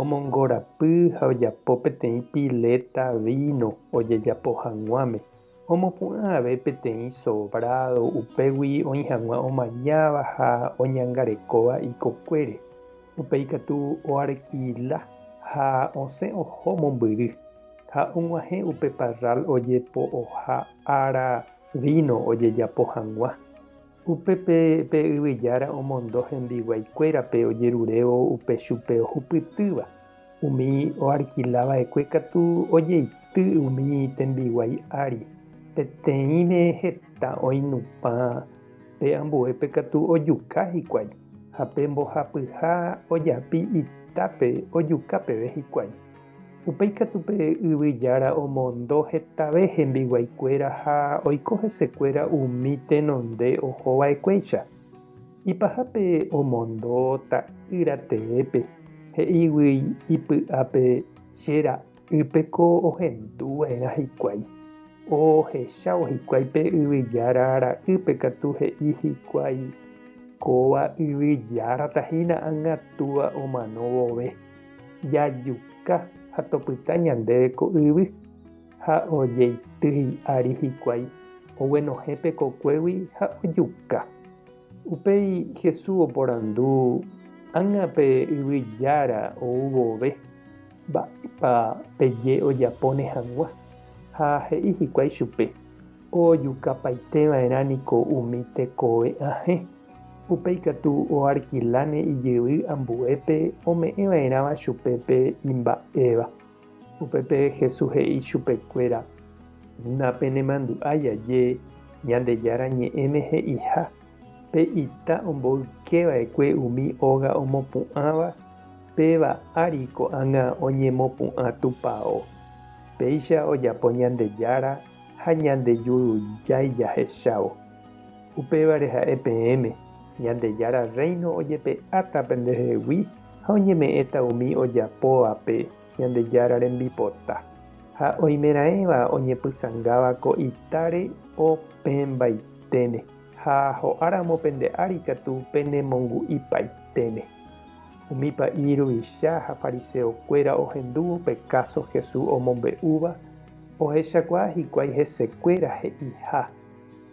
Omongorapy ha ojapo peteĩ piléta víno ojejapo hag̃uáme, omopu'ã ave peteĩ sobrádo upégui oĩ hag̃ua omañáva ha oñangarekóva ikokuére. Upe ikatu oarkila ha osẽ oho mombyry, ha og̃uahẽ upe parral ojepo'oha ára víno ojejapo hag̃ua. Upépe pe yvy jára omondo hembiguái kuérape ojerurévo upe chupe ohupytýva. Umi oalkila va'ekue katu ojeity umi tembiguái ári. Peteĩve heta oinupã pe ambuépe katu ojuka hikuái, ha pe mbohapyha ojapi itápe ojuka peve hikuái. Upéi katu pe yvy jára omondo hetave hembiguaikuéra ha oiko hesekuéra umi tenonde oho va'ekuéicha. Ipaha pe omondo ta'ýra teépe, he'ígui ipy'ápe che ra'ýpe ko ohendu va'erã hikuái. Ohechávo hikuái pe yvy jára ra'ýpe katu he'i hikuái kóva yvy járata hína angatúva omano vove. Jajuka ha topyta ñandéve ko yvy ha ojeity hi'ári hikuái oguenohẽ tekokuégui ha ojuka. Upéi Jesús oporandu, Ág̃a pe yvy jára ou vove, mba'épa peje ojapóne hag̃ua? Ha he'i hikuái chupe, Ojukapaiteva'erã niko umi tekove'ãhe. Upe ikatu oarkiláne ijyvy ambuépe ome'ẽva'erãva chupe pe imba'éva. Upépe Jesús he'i chupekuéra, Napenemandu'ái aje Ñandejára Ñe'ẽme he'iha, Pe ita omboykeva'ekue umi óga omopu'ãva, péva ári ko'ág̃a oñemopu'ã tupao. Péicha ojapo Ñandejára ha Ñandejurujáicha hechávo. Upévare ha'e peẽme, Ñandejára Rréino ojepe'áta pendehegui ha oñeme'ẽta umi ojapóvape Ñandejára rembipota, ha oimeraẽva oñepysangáva ko itáre opẽmbaiténe ha ho'áramo pende ári katu penemongu'ipaiténe. Umi pa'i ruvicha ha fariseokuéra ohendúvo pe káso Jesús omombe'úva ohechakuaa hikuái hesekuéra he'iha.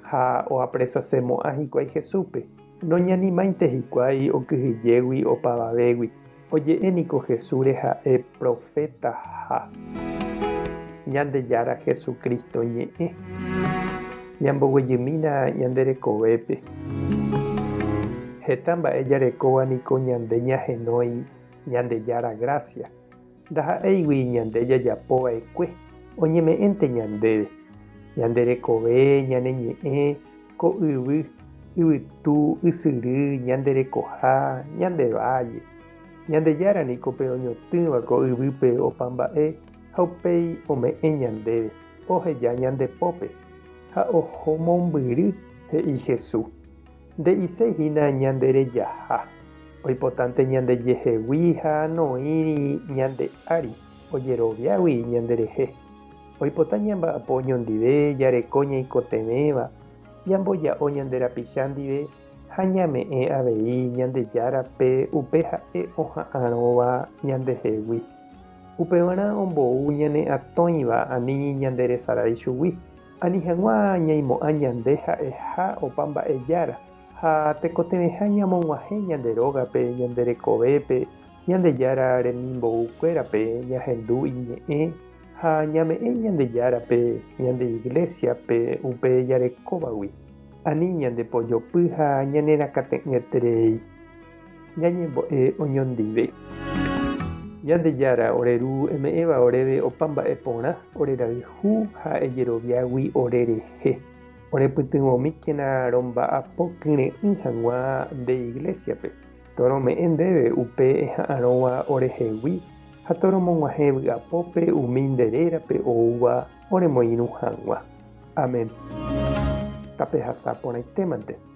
Ha oapresasemo'ã hikuái Jesúspe, noñanimáinte hikuái okyhyjégui opavavégui. Oje'e niko Jesúsre ha'e proféta ha Ñandejára Jesucristo ñe'ẽ. Ñamboguejymína ñande rekovépe. Heta mba'e jarekóva niko ñande ñahenói Ñandejára grásia. Ndaha'éigui ñande jajapo va'ekue oñeme'ẽnte ñandéve, ñande rekove, ñane ñe'ẽ, ko yvy, yvytu, ysyry, ñande rekoha, ñande válle. Ñandejára niko pe oñotỹva ko yvýpe opa mba'e ha upéi ome'ẽ ñandéve, oheja ñande pópe ha oho mombyry, he'i Jesús. Nde'iséi hína ñanderejaha, oipotánte ñandejehegui ha noĩri ñande ári ojeroviágui ñanderehe. Oipota ñamba'apo oñondive jareko ñaikotevẽva, ñamboja'o ñande rapicha ndive ha ñame'ẽ avei Ñandejárape upe ha'e oha'arõva ñandehegui. Upevarã ombou ñane atõiva ani ñanderesarái chugui. Ani hag̃ua ñaimo'ã ñande ha'eha opa mba'e Jára, ha tekotevẽha ñamog̃uahẽ ñande rógape, ñande rekovépe, Ñandejára remimboykuérape ñahendu iñe'ẽ ha ñame'ẽ Ñandejárape ñande Iglésiape upe jarekóvagui, ani ñandepojopy ha ñanerakate'ỹeterei. Ñañembo'e oñondive. Ñandejára, ore Ru, eme'ẽva oréve opa mba'e porã, ore rayhu ha ejeroviágui ore rehe. Orepytyvõmíkena romba'apo kyre'ỹ hag̃ua nde iglésiape, torome'ẽ ndéve upe eha'arõva orehegui ha toromog̃uahẽ vy'apópe umi nde rérape oúva oremoirũ hag̃ua. Amén. Tapehasa porãitémante.